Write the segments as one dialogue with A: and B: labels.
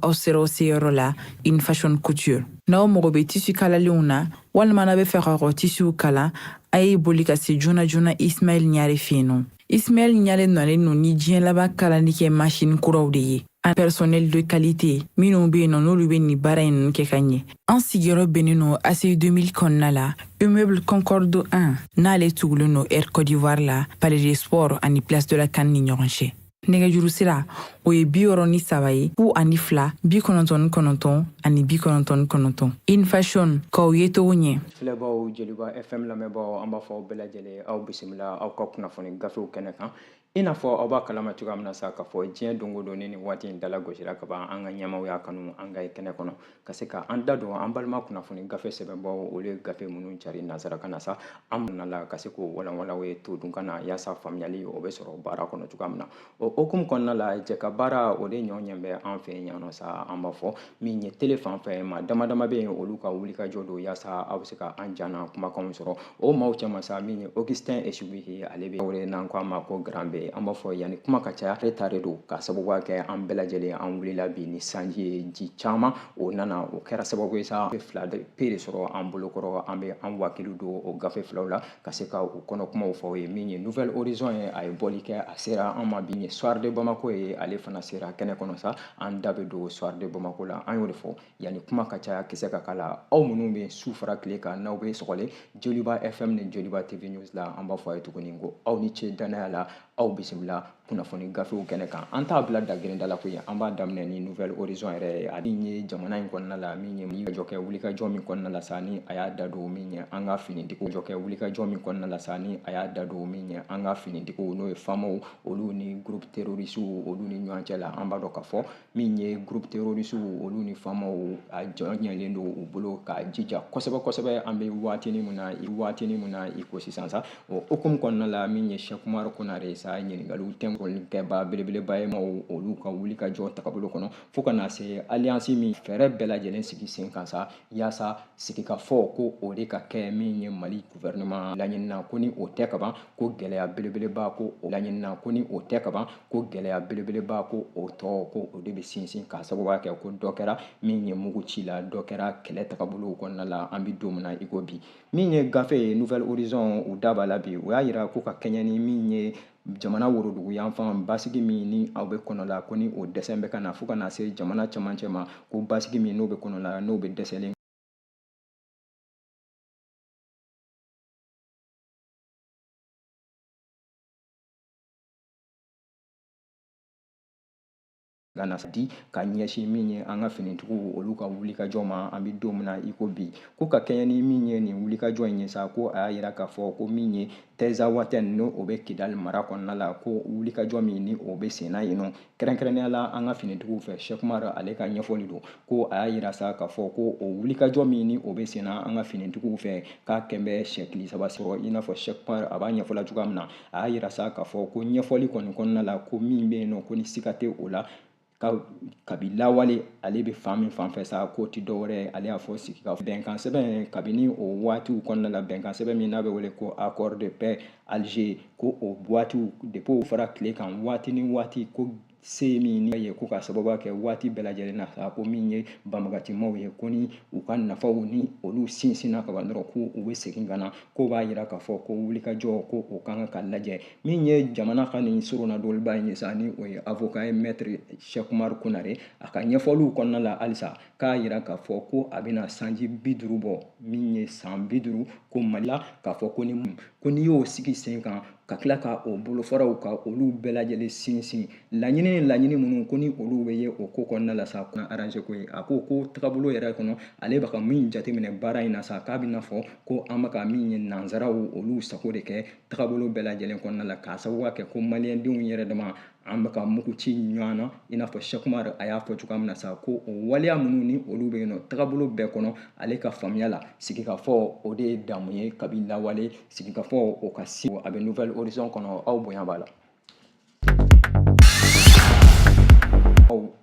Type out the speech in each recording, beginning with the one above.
A: aw sera o seyɔrɔ la in fashion couture n'aw mago bɛ tissu kalalenw na walima n'a bɛ fɛ ka kɔ tissuw kala a ye boli ka se joona joona ismaɛl ɲare fɛ yen nɔ ismaɛl ɲare nalen no ni diɲɛ laban kalali kɛ machine kuraw de ye an personnel de qualité minnu bɛ yen nɔ n'olu bɛ nin baara in kɛ ka ɲɛ an sigiyɔrɔ bɛnnen no aci 2000 kɔnɔna la immeuble concorde 1 n'ale tugulen no air côte d'ivoire la palais des sports ani place de la can ni ɲɔgɔn cɛ nɛgɛjuru sira o ye bi wɔɔrɔ ni saba ye fu ani fila bi kɔnɔntɔn ni kɔnɔntɔn ani bi kɔnɔntɔn ni kɔnɔntɔn in fashion k'aw ye togo ɲɛ filɛbaaw jeliba
B: fm lamɛnbaaw an b'a fɔ aw bɛɛ lajɛlen aw bisimila aw ka kunnafoni gafew kɛnɛ kan i n'a fɔ aw b'a kalama cogoya min na sa k'a fɔ diɲɛ don o don ni nin waati in dala gosira ka ban an ka ɲɛmaaw y'a kanu an ka ye kɛnɛ kɔnɔ ka se ka an da don an balima kunnafoni gafe sɛbɛnbaaw olu ye gafe minnu cari nansarakan na sa an minna la ka se k'o walanwala aw ye todunkan na yaasa faamuyali o bɛ sɔrɔ baara kɔnɔ cogoya min na o hokumu kɔnɔna la jɛkabaara o de ɲɔgɔn ɲɛ bɛ an fɛ yan nɔ sa an b'a fɔ min ye tele fan fɛ maa dama dama bɛ yen olu ka wulikajɔ don yaasa aw bɛ se ka an ja n'an kumakanw sɔrɔ O maaw cɛma sa min ye Augustin esu ye ale bɛ wele n'an ko a ma ko Grand B an b'a fɔ yanni kuma ka caya ale tare don ka sababu kɛ an bɛɛ lajɛlen an wulila bi ni sanji ye ji caman o nana o kɛra sababu ye sa fila de pe de sɔrɔ an bolokɔrɔ an bɛ an wakili don o gafe filaw la ka se ka u kɔnɔ kumaw fɔ ye min ye Nouvel Horizon ye a ye bɔli kɛ a sera an ma bi ye Soir de Bamako ye ale fana sera kɛnɛ kɔnɔ sa an da bɛ don Soir de Bamako la an y'o de fɔ Yanni kuma ka caya kisɛ ka kala aw minnu bɛ su fara tile kan n'aw bɛ sɔgɔlen Joliba FM ni Joliba TV la an b'a fɔ a ye tuguni ko aw ni ce danaya la aw bisimila kunnafoni gafew kɛnɛ kan an t'a bila da gda la koyi an b'a daminɛ ni Nouvel Horizon yɛrɛ ye a min ye jamana in kɔnɔna la min ye wulikajɔ kɛ wulikajɔ min kɔnɔna la sa ni a y'a da don min ye an ka finitigiw jɔ kɛ wulikajɔ min kɔnɔna la sa ni a y'a da don min ye an ka finitigiw n'o ye famaw olu ni groupe terroriste olu ni ɲɔgɔn cɛ la an b'a dɔn k'a fɔ min ye groupe terroriste olu ni famaw a jɔyɔrɔ ɲɛlen don u bolo ka jija kosɛbɛ kosɛbɛ an bɛ waatini min na i waatini min na i ko sisan sa o hukumu kɔnɔna la min ye Cheikh Oumar Konare sa ɲininkaliw tɛnkɔli kɛba belebeleba ye maaw olu ka wulikajɔ tagabolo kɔnɔ fo ka na se alliance min fɛɛrɛ bɛɛ lajɛlen sigi sen kan sa yaasa sigikafɔ ko o de ka kɛ min ye Mali gouvernement laɲinina ko ni o tɛ kaban ko gɛlɛya belebeleba ko o laɲinina ko ni o tɛ kaban ko gɛlɛya belebeleba ko o tɔ ko o de bɛ sinsin ka sababuya kɛ ko dɔ kɛra min ye mugu ci la dɔ kɛra kɛlɛ tagabolow kɔnɔna la an bɛ don min na i ko bi min ye gafe ye nouvel horizon u da b'a la bi o y'a yira ko ka kɛɲɛ ni min ye jamana worodugu yanfan basigi min ni aw bɛ kɔnɔ la ko ni o dɛsɛ bɛ ka na fo ka na se jamana cɛmancɛ ma ko basigi min n'o bɛ kɔnɔ la n'o bɛ dɛsɛlen ka na di ka ɲɛsin min ye an ka finitigiw olu ka wulikajɔ ma an bɛ don min na i ko bi ko ka kɛɲɛ ni min ye nin wulikajɔ in ye sa ko a y'a yira k'a fɔ ko min ye tinzawatɛn ni o bɛ kidali mara kɔnɔna la ko wulikajɔ min ni o bɛ senna yen nɔ kɛrɛnkɛrɛnnenya la an ka finitigiw fɛ cheikh umaru ale ka ɲɛfɔli don ko a y'a yira sa k'a fɔ ko o wulikajɔ min ni o bɛ senna an ka finitigiw fɛ k'a kɛlen bɛ se tile saba sɔrɔ i n'a fɔ cheikh umaru a b'a ɲɛfɔla cogoya min na a y'a yira sa k'a fɔ ko ɲɛfɔli kɔni kɔnɔna la ko min bɛ yen nɔ ko ni siga tɛ o la kabi lawale ale bɛ fan min fan fɛ sa k'o tɛ dɔwɛrɛ ye ale y'a fɔ sigi ka bɛnkan sɛbɛn kabini o waatiw kɔnɔna la bɛnkan sɛbɛn min n'a bɛ wele ko accord de paix Alger ko o waatiw depuis o fara tile kan waati ni waati ko se min ye ko k'a sababu kɛ waati bɛɛ lajɛlen na a ko min ye banbagancimaw ye ko ni u ka nafaw ni olu sinsinna ka ban dɔrɔn ko u bɛ segin ka na k'o b'a yira k'a fɔ ko wulikajɔ ko o kan ka lajɛ min ye jamana ka nin soronadonnaba in ye sa ni o ye avocat ye maître cheikh umaru konare a ka ɲɛfɔliw kɔnɔna la halisa k'a yira k'a fɔ ko a bɛna sanji bi duuru bɔ min ye san bi duuru ko mali la k'a fɔ ko ni ko n'i y'o sigi sen kan ka tila ka o bolofaraw ka olu bɛɛ lajɛlen sinsin laɲini ni laɲini minnu ko ni olu bɛ ye o ko kɔnɔna la sa kuna arranger ko ye a ko ko tagabolo yɛrɛ kɔnɔ ale bɛ ka min jateminɛ baara in na sa k'a b'i n'a fɔ ko an bɛ ka min ye nansaraw olu sago de kɛ tagabolo bɛɛ lajɛlen kɔnɔna la k'a sababuya kɛ ko maliyɛndenw yɛrɛ dama an bɛ ka mugu ci ɲɔgɔn na i n'a fɔ cheikh umaru a y'a fɔ cogoya min na sa ko o waleya minnu ni olu bɛ yen nɔ tagabolo bɛɛ kɔnɔ ale ka faamuya la sigikafɔ o de ye damu ye kabi lawale sigikafɔ o ka si a bɛ nouvelle horizon kɔnɔ aw bonya b'a la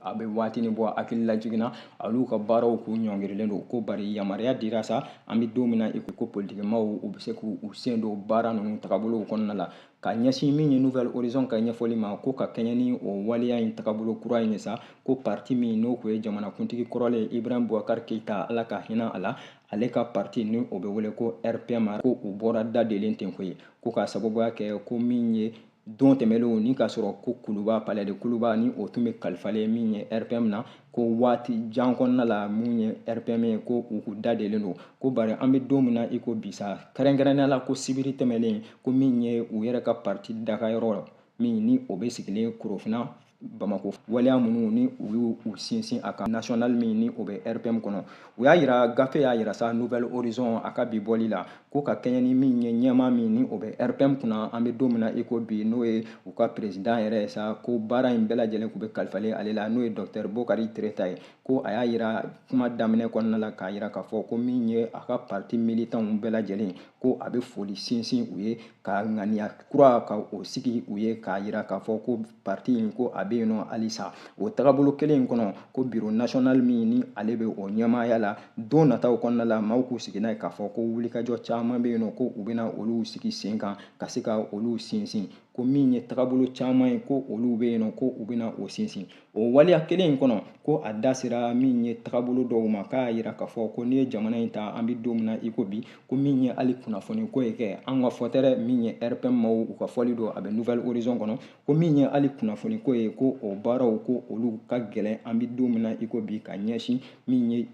B: a bɛ waatinin bɔ hakililajigin na olu ka baaraw k'u ɲɔngirilen don ko bari yamaruya dira sa an bɛ don min na i ko ko politikimaaw u bɛ se k'u sen don baara ninnu tagabolow kɔnɔna la ka ɲɛsin min ye nouvelle horizon ka ɲɛfɔli ma ko ka kɛɲɛ ni o waleya in tagabolo kura in ye sa ko parti min n'o tun ye jamanakuntigi kɔrɔlen ibrahim bubakar keyita ala ka hinɛ a la ale ka parti ni o bɛ wele ko rpm ko u bɔra dadelen ten koyi ko k'a sababuya kɛ ko min ye don tɛmɛlenw ni k'a sɔrɔ ko kuluba palais de kuluba ni o tun bɛ kalifalen min ye rpm na ko waati jan kɔnɔna la min ye rpm ye ko u tun dadelen don ko bari an bɛ don min na i ko bi sa kɛrɛnkɛrɛnnenya la ko sibiri tɛmɛlen ko min ye u yɛrɛ ka parti dagayɔrɔ min ni o bɛ sigilen korofina bamako waleya minnu ni u y'u sinsin a kan national min ni o bɛ rpm kɔnɔ u y'a yira gafe y'a yira sa nouvelle horizon a ka bi bɔli la ko ka kɛɲɛ ni min ye ɲɛmaa min ni o bɛ rpm kunna an bɛ don min na i ko bi n'o ye u ka peresidan yɛrɛ ye sa ko baara in bɛɛ lajɛlen tun bɛ kalifalen ale la n'o ye dɔktɛr bokari tereta ye ko a y'a yira kuma daminɛ kɔnɔna la k'a yira k'a fɔ ko min ye a ka parti militanw bɛɛ lajɛlen ko a bɛ foli sinsin u ye ka ŋaniya kura ka o sigi u ye k'a yira k'a fɔ ko parti in ko a bɛ yen nɔ halisa o tagabolo kelen in kɔnɔ ko biro national min ni ale bɛ o ɲɛmaaya la don nataw kɔnɔna la maaw k'u sigi n'a ye k'a fɔ ko wulikajɔ caman bɛ yen nɔ ko u bɛna olu sigi sen kan ka se ka olu sinsin ko min ye tagabolo caman ye ko olu bɛ yen nɔ ko u bɛna o sinsin o waleya kelen in kɔnɔ ko a da sera min ye tagabolo dɔw ma k'a yira k'a fɔ ko n'i ye jamana in ta an bɛ don min na i ko bi ko min ye hali kunnafoni ko ye kɛ an ka fɔtɛrɛ min ye rpm maaw u ka fɔli don a bɛ nouvel horizon kɔnɔ ko min ye hali kunnafoni ko ye ko o baaraw ko olu ka gɛlɛn an bɛ don min na i ko bi ka ɲɛsin min ye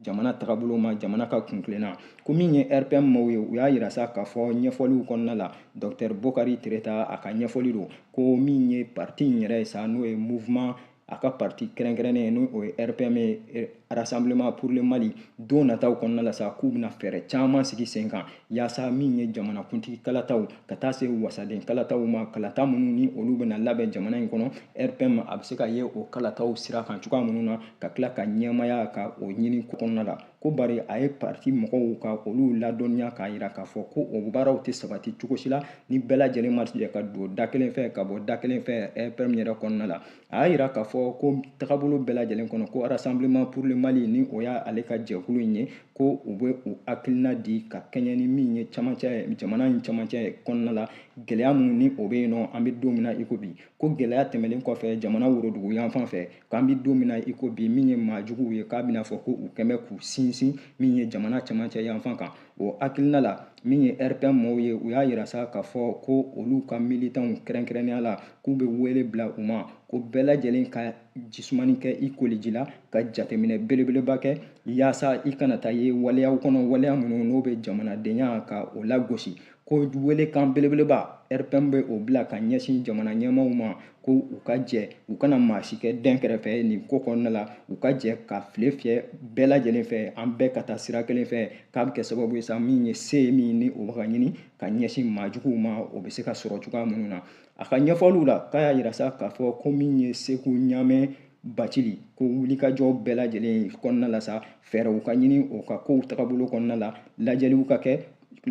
B: jamana tagabolo ma jamana ka kuntilenna ko min ye rpm maaw ye u y'a yira sa k'a fɔ ɲɛfɔliw kɔnɔna la dɔktɛr bokari tereta a ka ɲɛfɔli don ko min ye parti in yɛrɛ ye sa n'o ye mouvement a ka parti kɛrɛnkɛrɛnnen ye n'o ye rpm ye eh, rassemblement pour le mali don nataw kɔnɔna la sa k'u bɛna fɛɛrɛ caman sigi sen kan yaasa min ye jamanakuntigi kalataw ka taa se wasaden kalataw ma kalata minnu ni olu bɛna labɛn jamana in kɔnɔ rpm a bɛ se ka ye o kalataw sira kan cogoya minnu na ka tila ka ɲɛmaaya ka o ɲini kɔnɔna la ko bari a ye parti mɔgɔw ka olu ladɔnniya k'a yira k'a fɔ ko o baaraw tɛ sabati cogo si la ni bɛɛ lajɛlen ma jɛ ka don da kelen fɛ ka bɔ da kelen fɛ RPM yɛrɛ kɔnɔna la a y'a yira k'a fɔ ko tagabolo bɛɛ lajɛlen kɔnɔ ko rassemblement pour le Mali ni o ye ale ka jɛkulu in ye ko u bɛ u hakilina di ka kɛɲɛ ni min ye camancɛ jamana in camancɛ kɔnɔna la gɛlɛya minnu ni o bɛ yen nɔ an bɛ don min na i ko bi ko gɛlɛya tɛmɛlen kɔfɛ jamana worodugu yanfan fɛ k'an bɛ don min na i ko bi min ye maa juguw ye k'a bɛna fɔ ko u kɛlen bɛ k'u sinsin min ye jamana camancɛ yanfan kan o hakilina la min ye rpm mɔgɔw ye u y'a yira sa k'a fɔ ko olu ka militanw kɛrɛnkɛrɛnnenya la k'u bɛ wele bila u ma ko bɛɛ lajɛlen ka ji sumanin kɛ i koliji la ka jateminɛ belebeleba kɛ yaasa i kana taa ye waleyaw kɔnɔ waleya minnu n'o bɛ jamanadenya ka o lagosi ko welekan belebeleba rpm bɛ o bila ka ɲɛsin jamana ɲɛmaaw ma ko u ka jɛ u kana maa si kɛ dɛn kɛrɛfɛ nin ko kɔnɔna la u ka jɛ ka file fiyɛ bɛɛ lajɛlen fɛ an bɛɛ ka taa sira kelen fɛ k'a bɛ kɛ sababu ye sa min ye se ye min ni o bɛ ka ɲini ka ɲɛsin maa juguw ma o bɛ se ka sɔrɔ cogoya minnu na a ka ɲɛfɔliw la k'a y'a yira sa k'a fɔ ko min ye seku ɲamɛ bacili ko wulikajɔ bɛɛ lajɛlen kɔnɔna la sa fɛɛrɛw ka ɲini o ka kow tagabolo kɔnɔna la lajɛliw ka kɛ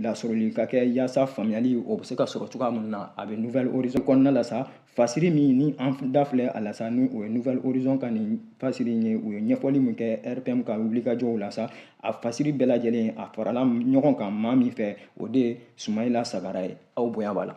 B: lasɔrɔli ka kɛ yaasa faamuyali o bɛ se ka sɔrɔ cogoya min na a bɛ nouvelle horizon kɔnɔna la sa fasiri min ni an da filɛ a la sa ni o ye nouvelle horizon ka nin fasiri in ye u ye ɲɛfɔli min kɛ rpm ka wulikajɔw la sa a fasiri bɛɛ lajɛlen a farala ɲɔgɔn kan maa min fɛ o de ye sumayila sagara ye aw bonya b'a la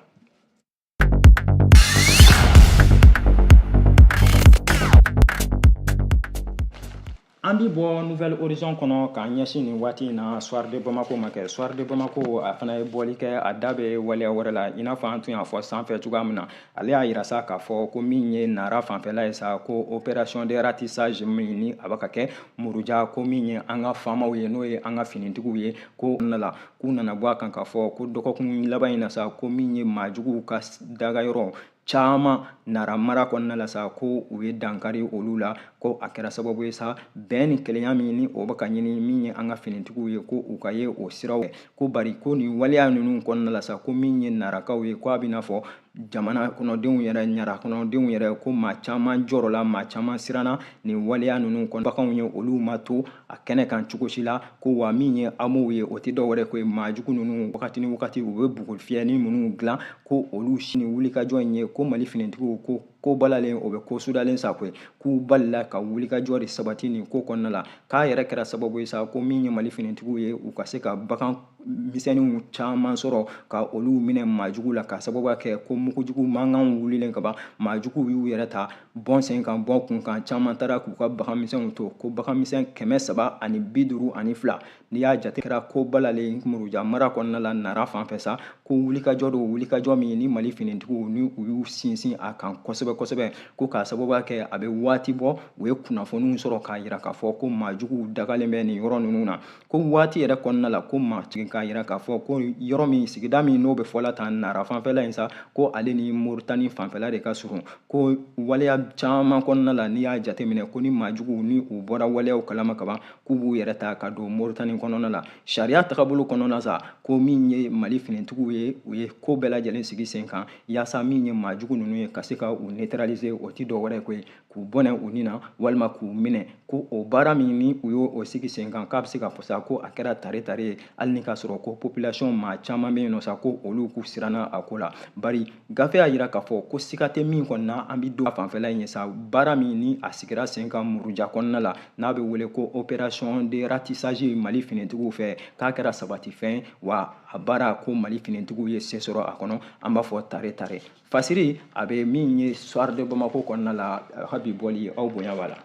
B: An bɛ bɔ nouvelle horizon kɔnɔ k'an ɲɛsin nin waati in na soir de Bamako ma kɛ soir de Bamako a fana ye bɔli kɛ a da bɛ waleya wɛrɛ la i n'a fɔ an tun y'a fɔ sanfɛ cogoya min na ale y'a yira sa k'a fɔ ko min ye Nara fanfɛla ye sa ko opération de ratissage min ni a bɛ ka kɛ Muruja ko min ye an ka FAMaw ye n'o ye an ka finitigiw ye ko la k'u nana bɔ a kan k'a fɔ ko dɔgɔkun laban in na sa ko min ye maajuguw ka dagayɔrɔ caman nara mara kɔnɔna la sa ko u ye dankari olu la ko a kɛra sababu ye sa bɛn ni kelenya min ni o bɛ ka ɲini min ye an ka finitigiw ye ko u ka ye o siraw ko bari ko nin waleya ninnu kɔnɔna la sa ko min ye narakaw ye ko a b'i n'a fɔ jamana kɔnɔdenw yɛrɛ nara kɔnɔdenw yɛrɛ ko maa caman jɔrɔla maa caman siranna nin waleya ninnu kɔnɔ baganw ye olu ma to a kɛnɛ kan cogo si la ko wa min ye hameauw ye o tɛ dɔ wɛrɛ ko ye maajugu ninnu wagati ni wagati u bɛ bugufiyɛnin minnu dilan ko olu sini wulikajɔ in ye ko mali finitigiw ko ko balalen o bɛ ko sudalen sa koyi k'u balila ka wulikajɔ de sabati nin ko kɔnɔna la k'a yɛrɛ kɛra sababu ye sa ko min ye mali finitigiw ye u ka se ka bagan misɛnninw caman sɔrɔ ka olu minɛ maajuguw la k'a sababu kɛ ko mugujugu mankan wulilen ka ban maajuguw y'u yɛrɛ ta bɔn sen kan bɔn kun kan caman taara k'u ka baganmisɛnw to ko baganmisɛn kɛmɛ saba ani bi duuru ani fila n'i y'a jate kɛra ko balalen muruja mara kɔnɔna la nara fanfɛ sa ko wulikajɔ don wulikajɔ min ni mali finitigiw ni u y'u sinsin a kan kosɛbɛ kosɛbɛ ko k'a sababu kɛ a bɛ waati bɔ u ye kunnafoniw sɔrɔ k'a yira k'a fɔ ko maajuguw dagalen bɛ nin yɔrɔ ninnu na ko waati yɛrɛ kɔnɔna la ko maatigi k'a yira k'a fɔ ko yɔrɔ min sigida min n'o bɛ fɔla tan nara fanfɛla in sa ko ale ni moritani fanfɛla de ka surun ko waleya caman kɔnɔna la n'i y'a jateminɛ ko ni maajuguw ni u bɔra waleyaw kalama kaban k'u b'u yɛrɛ ta ka don moritani kɔnɔna la sariya tagabolo kɔnɔna sa ko min ye mali finitigiw ye u ye ko bɛɛ lajɛlen sigi sen kan yaasa min ye maajugu ninnu ye ka se ka u neutraliser o ti dɔ wɛrɛ ko ye k'u bɔnɛ u ni na walima k'u minɛ ko o baara min ni u y'o sigi sen kan k'a bɛ se ka fɔ sa ko a kɛra tare tare ye hali ni k'a sɔrɔ ko population maa caman bɛ yen nɔ sa ko olu k'u siranna a ko la bari gafe y'a yira k'a fɔ ko siga tɛ min kɔni na an bɛ don fanfɛla in ye sa baara min ni a sigira sen kan muruja kɔnɔna la n'a bɛ wele ko opération de ratissage mali finitigiw fɛ k'a kɛra sabatifɛn wa a baara ko mali finitigiw ye se sɔrɔ a kɔnɔ an b'a fɔ tare tare fasiri a bɛ min ye soir de bamako kɔnɔna la a ka bi bɔli aw bonya b'a la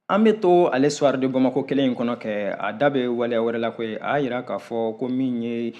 B: an bɛ to ale soir de bamako kelen in kɔnɔ kɛ a da bɛ waleya wɛrɛ la koyi a y'a yira k'a fɔ ko min ye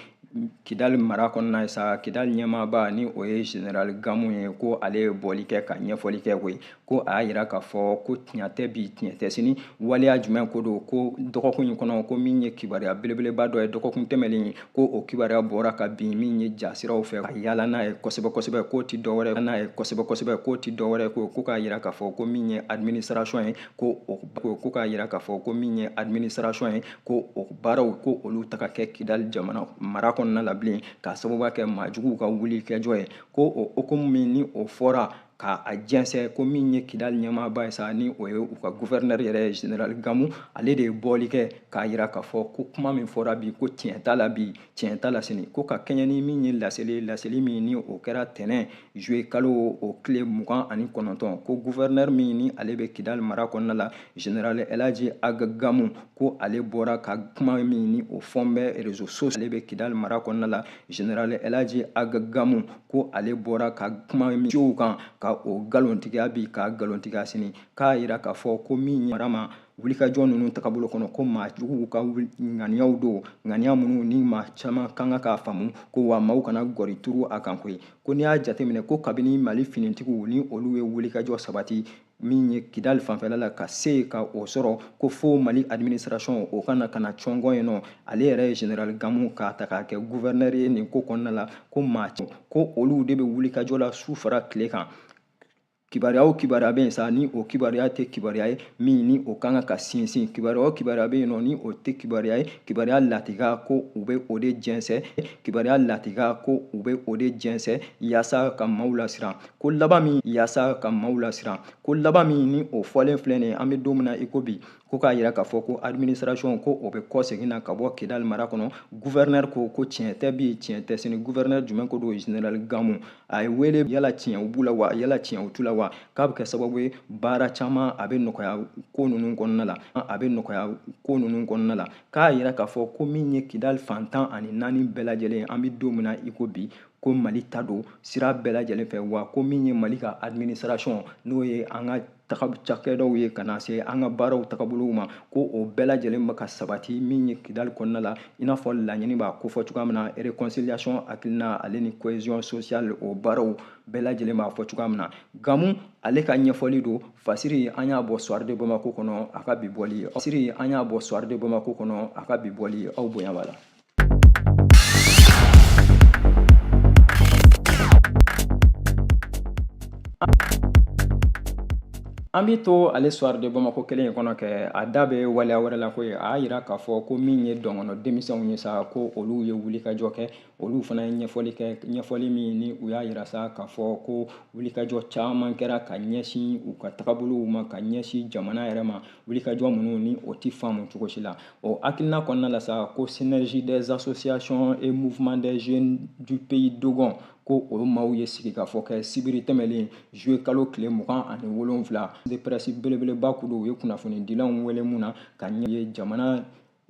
B: kidali mara kɔnɔna ye sa kidali ɲɛmaaba ni o ye general gamu ye ko ale ye bɔli kɛ ka ɲɛfɔli kɛ koyi ko a y'a yira k'a fɔ ko tiɲɛ tɛ bi tiɲɛ tɛ sini waleya jumɛn ko don ko dɔgɔkun in kɔnɔ ko min ye kibaruya belebeleba dɔ ye dɔgɔkun tɛmɛlen ye ko o kibaruya bɔra ka bin min ye jasiraw fɛ ka yaala n'a ye kosɛbɛ kosɛbɛ k'o ti dɔwɛrɛ n'a ye kosɛbɛ kosɛbɛ k'o ti dɔwɛrɛ ko ko k'a yira k'a fɔ ko min ye administration ye ko o ko k'a yira k'a fɔ ko min ye administration ye ko o baaraw ko olu tɛ ka kɛ kidali jamana mara kɔnɔna la bilen k'a sababu kɛ maajuguw ka wulikajɔ ye ko o hukumu min ni o fɔra ka a jɛnsɛn ko min ye kidali ɲɛmaaba ye sa ni o ye u ka guvɛrinɛri yɛrɛ ye general gamu ale de ye bɔli kɛ k'a yira k'a fɔ ko kuma min fɔra bi ko tiɲɛ t'a la bi tiɲɛ t'a la sini ko ka kɛɲɛ ni min ye laseli ye laseli min ni o kɛra tɛnɛn juillet kalo o tile mugan ani kɔnɔntɔn ko guvɛrinɛri min ni ale bɛ kidali mara kɔnɔna la general elaji aga gamu ko ale bɔra ka kuma min ni o fɔn bɛ rezo so ale bɛ kidali mara kɔnɔna la general elaji aga gamu ko ale bɔra ka kuma min sociaux kan ka o nkalontigiya bi ka nkalontigiya sini k'a yira k'a fɔ ko min ye mara ma wulikajɔ ninnu tagabolo kɔnɔ ko maajuguw ka ŋaniyaw don ŋaniya minnu ni maa caman kan ka k'a faamu ko wa maaw kana gɔri turu a kan koyi ko n'i y'a jateminɛ ko kabini mali finitigiw ni olu ye wulikajɔ sabati min ye kidali fanfɛla la ka se yen ka o sɔrɔ ko fo mali administration o kana ka na cɔngɔn yen nɔ ale yɛrɛ ye general gamu k'a ta k'a kɛ gouverneur ye nin ko kɔnɔna la ko maa ko olu de bɛ wulikajɔ la su fara tile kan kibaruya o kibaruya bɛ yen sa ni o kibaruya tɛ kibaruya ye min ni o kan ka sinsin kibaruya o kibaruya bɛ yen nɔ ni o tɛ kibaruya ye kibaruya latiga ko u bɛ o de jɛnsɛ kibaruya latiga ko u bɛ o de jɛnsɛ yaasa ka maaw lasiran ko laban min yaasa ka maaw lasiran ko laban min ni o fɔlen filɛ nin an bɛ don min na i ko bi ko k'a yira k'a fɔ ko administration ko o bɛ kɔ segin na ka bɔ kidali mara kɔnɔ gouverneur ko ko tiɲɛ tɛ bi tiɲɛ tɛ sini gouverneur jumɛn ko don general gamu a ye wele yala tiɲɛw b'u la wa yala tiɲɛw t'u la wa k'a bɛ kɛ sababu ye baara caman a bɛ nɔgɔya ko ninnu kɔnɔna la a bɛ nɔgɔya ko ninnu kɔnɔna la k'a yira k'a fɔ ko min ye kidali fan tan ani naani bɛɛ lajɛlen an bɛ don min na i ko bi ko mali ta don sira bɛɛ lajɛlen fɛ wa ko min ye mali ka administration n'o ye an ka cakɛdaw ye ka na se an ka baaraw tagabolow ma ko o bɛɛ lajɛlen bɛ ka sabati min ye kidali kɔnɔna la i n'a fɔ laɲini b'a kofɔ cogoya min na réconciliation hakilina ale ni cohésion sociale o baaraw bɛɛ lajɛlen b'a fɔ cogoya min na gamu ale ka ɲɛfɔli don fasiri an y'a bɔ soir de bamako kɔnɔ a ka bi bɔli fasiri an y'a bɔ soir de bamako kɔnɔ a ka bi bɔli aw bonya b'a la An bɛ to ale soir de bamako kelen in kɔnɔ kɛ a da bɛ waleya wɛrɛ la ko ye a y'a yira k'a fɔ ko min ye dɔngɔnɔ denmisɛnw ye sa ko olu ye wulikajɔ kɛ olu fana ye ɲɛfɔli kɛ ɲɛfɔli min ni u y'a yira sa k'a fɔ ko wulikajɔ caman kɛra ka ɲɛsin u ka tagabolow ma ka ɲɛsin jamana yɛrɛ ma wulikajɔ minnu ni o tɛ faamu cogo si la o hakilina kɔnɔna la sa ko synergie des associations et mouvements des jeunes du pays dogon ko o maaw ye sigikafɔ kɛ sibiri tɛmɛlen juillet kalo tile mugan ani wolonfila de presse belebeleba kulu u ye kunnafonidilanw wele mun na ka ɲɛ ye jamana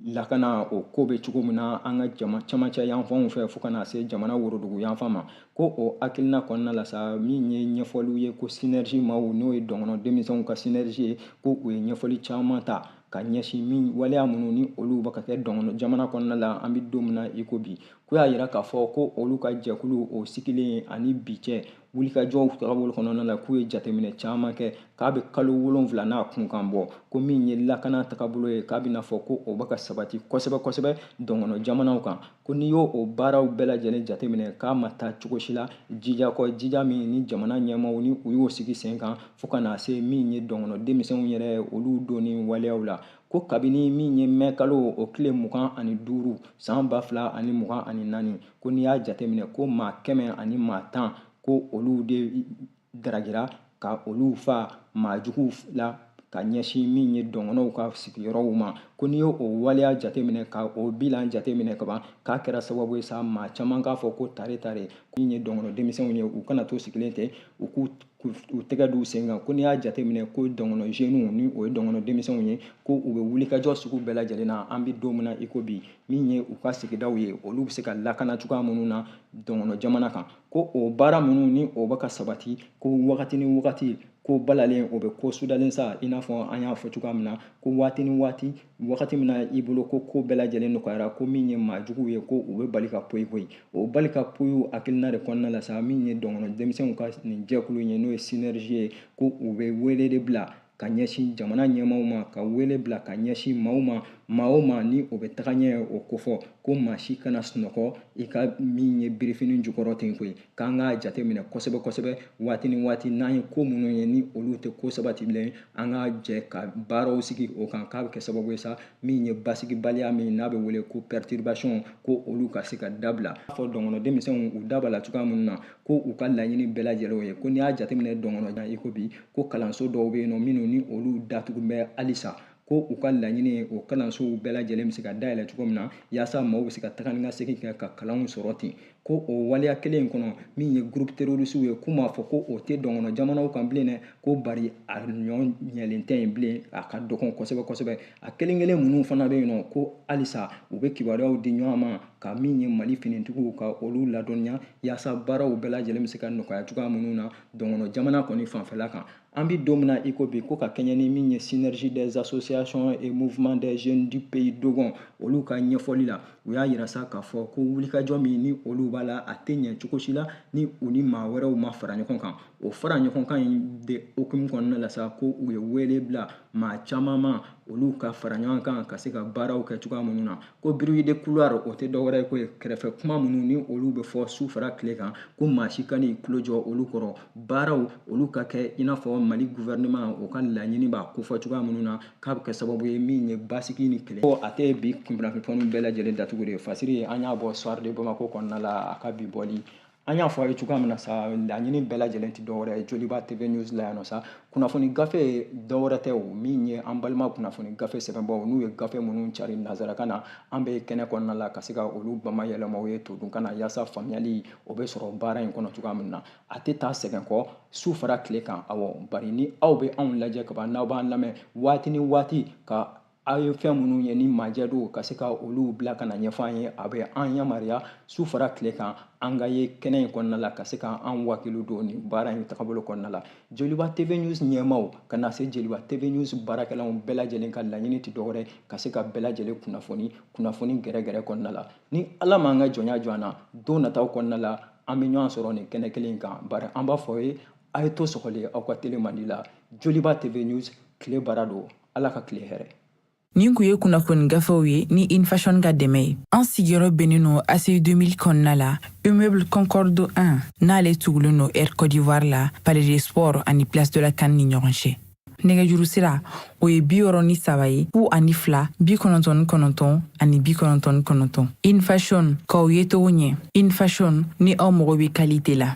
B: lakana o ko bɛ cogo min na an ka jama camancɛ yanfanw fɛ fo ka na se jamana worodugu yanfan ma ko o hakilina kɔnɔna la sa min ye ɲɛfɔliw ye ko synergie maaw n'o ye dɔngɔnɔ denmisɛnw ka synergie ye ko u ye ɲɛfɔli caman ta ka ɲɛsin min waleya minnu ni olu bɛ ka kɛ dɔngɔnɔ jamana kɔnɔna la an bɛ don min na i ko bi k'u y'a yira k'a fɔ ko olu ka jɛkulu o sigilen ani bi cɛ wulikajɔw tagabolo kɔnɔna la k'u ye jateminɛ caman kɛ k'a bɛ kalo wolonfila n'a kunkan bɔ ko min ye lakana tagabolo ye k'a bɛ n'a fɔ ko o bɛ ka sabati kosɛbɛ kosɛbɛ dɔngɔnɔ jamanaw kan ko n'i y'o o baaraw bɛɛ lajɛlen jateminɛ k'a ma taa cogo si la jija kɔ jija min ni jamana ɲɛmaaw ni u y'o sigi sen kan fo ka na se min ye dɔngɔnɔ denmisɛnw yɛrɛ olu donni waleyaw la ko kabini min ye mɛ kalo o tile mugan ani duuru san ba fila ani mugan ani naani ko n'i y'a jateminɛ ko maa kɛmɛ ani maa tan ko olu de daragira ka olu fa maa juguw la ka ɲɛsin min ye dɔngɔnɔw ka sigiyɔrɔw ma ko n'i y'o o waleya jateminɛ ka o bilan jateminɛ kaban k'a kɛra sababu ye sa maa caman k'a fɔ ko tare tare ko min ye dɔngɔnɔ denmisɛnw ye u kana to sigilen tɛ u k'u tɛgɛ d'u sen kan ko n'i y'a jateminɛ ko dɔngɔnɔ jeunes ni o ye dɔngɔnɔ denmisɛnw ye ko u bɛ wulikajɔ sugu bɛɛ lajɛlen na an bɛ don min na i ko bi min ye u ka sigidaw ye olu bɛ se ka lakana cogoya minnu na dɔngɔnɔ jamana kan ko o baara minnu ni o bɛ ka sabati ko wagati ni wagati ko balalen o bɛ ko sudalen sa i n'a fɔ an y'a fɔ cogoya min na ko waati ni waati wagati min na i bolo ko ko bɛɛ lajɛlen nɔgɔyara ko min ye maa juguw ye ko u bɛ bali ka poyi poyi o bali ka poyi hakilina de kɔnɔna la sa min ye dɔngɔnɔ denmisɛnw ka nin jɛkulu ye n'o ye synergie ye ko u bɛ wele de bila ka ɲɛsin jamana ɲɛmaaw ma ka wele bila ka ɲɛsin maaw ma maa o maa ni o bɛ taga ɲɛ o kofɔ ko maa si kana sunɔgɔ i ka min ye birifini jukɔrɔ ten koyi k'an k'a jateminɛ kosɛbɛ kosɛbɛ waati ni waati n'an ye ko minnu ye ni olu tɛ ko sabatibilen an ka jɛ ka baaraw sigi o kan k'a bɛ kɛ sababu ye sa min ye basigibaliya min n'a bɛ wele ko perturbation ko olu ka se ka dabila fɔ dɔngɔnɔ denmisɛnw u da b'a la cogoya minnu na ko u ka laɲini bɛɛ lajɛlen ye ko n'i y'a jateminɛ dɔngɔnɔ i ko bi ko kalanso dɔw bɛ yen nɔ minnu ni olu datugu bɛ halisa ko u ka laɲini ye o kalansow bɛɛ lajɛlen bɛ se ka dayɛlɛ cogo min na yaasa maaw bɛ se ka taga ni ka segin kɛ ka kalanw sɔrɔ ten ko o waleya kelen in kɔnɔ min ye groupe terrorisiw ye k'u m'a fɔ ko o tɛ dɔngɔnɔ jamanaw kan bilen dɛ ko bari a ɲɔ ɲɛlen tɛ yen bilen a ka dɔgɔn kosɛbɛ kosɛbɛ a kelen kelen minnu fana bɛ yen nɔ ko halisa u bɛ kibaruyaw di ɲɔgɔn ma ka min ye mali finitigiw ka olu ladɔnniya yaasa baaraw bɛɛ lajɛlen bɛ se ka nɔgɔya cogoya minnu na dɔngɔnɔ jamana kɔni fanfɛla kan an bɛ don min na iko bi ko ka kɛɲɛ ni min ye synergie des associations et mouvements des jeunes du pays dogon olu ka ɲɛfɔli la u y'a yira sa k'a fɔ ko wulikajɔ min ni olu b'a la a tɛ ɲɛ cogo si la ni u ni maa wɛrɛw ma fara ɲɔgɔn kan o fara ɲɔgɔn kan in de hukumu kɔnɔna la sa ko u ye wele bila maa caman ma olu ka fara ɲɔgɔn kan ka se ka baaraw kɛ cogoya minnu na ko bruit de couloir o tɛ dɔwɛrɛ ye ko ye kɛrɛfɛ kuma minnu ni olu bɛ fɔ su fara tile kan ko maa si kan'i tulo jɔ olu kɔrɔ baaraw olu ka kɛ i n'a fɔ mali gouvernement o ka laɲini b'a kofɔ cogoya minnu na k'a bɛ kɛ sababu ye min ye basigi ni kɛlɛ ko a tɛ bi kunnafoni bɛɛ lajɛlen datugu de fasiri an y'a bɔ soir de bamako kɔnɔna la a ka bi bɔli an y'a fɔ a ye cogoya min na sa laɲini bɛɛ lajɛlen tɛ dɔwɛrɛ ye joliba tv news la yan nɔ sa kunnafoni gafe dɔwɛrɛ tɛ o min ye an balima kunnafoni gafe sɛbɛnbaaw n'u ye gafe minnu cari nazarakan na an bɛ kɛnɛ kɔnɔna la ka se ka olu bamayɛlɛma aw ye todunkan na yaasa faamuyali o bɛ sɔrɔ baara in kɔnɔ cogoya min na a tɛ taa sɛgɛn kɔ su fara tile kan awɔ bari ni aw bɛ anw lajɛ kaban n'aw b'an lamɛn waati ni waati ka aw ye fɛn minnu ye ni majɛ don ka se ka olu bila ka na ɲɛfɔ an ye a bɛ an yamaruya su fara tile kan an ka ye kɛnɛ in kɔnɔna la ka se ka an wakilu don nin baara in tagabolo kɔnɔna la joliba tv news ɲɛmaaw ka na se joliba tv news baarakɛlaw bɛɛ lajɛlen ka laɲini tɛ dɔwɛrɛ ka se ka bɛɛ lajɛlen kunnafoni kunnafoni gɛrɛgɛrɛ kɔnɔna la ni ala m'an ka jɔnya jɔ an na don nataw kɔnɔna la an bɛ ɲɔgɔn sɔrɔ nin kɛnɛ kelen in kan bari an b'a f'aw ye a ye to sɔgɔlen aw ka tele mandi la joliba tv news tile baara don ala ka tile hɛrɛ Nin kun
A: ye kunnafoni gafew ye ni in fashion ka dɛmɛ ye an sigiyɔrɔ bɛnnen no ACI 2000 kɔnɔna la immeuble concorde 1 n'ale tugulen no air côte d'ivoire la palais des sports ani place de la CAN ni ɲɔgɔn cɛ nɛgɛjuru sira o ye biwɔɔrɔ ni saba ye fu ani fila bi kɔnɔntɔn ni kɔnɔntɔn ani bi kɔnɔntɔn ni kɔnɔntɔn in fashion k'aw yecogo ɲɛ in fashion ni aw mago bɛ kalite la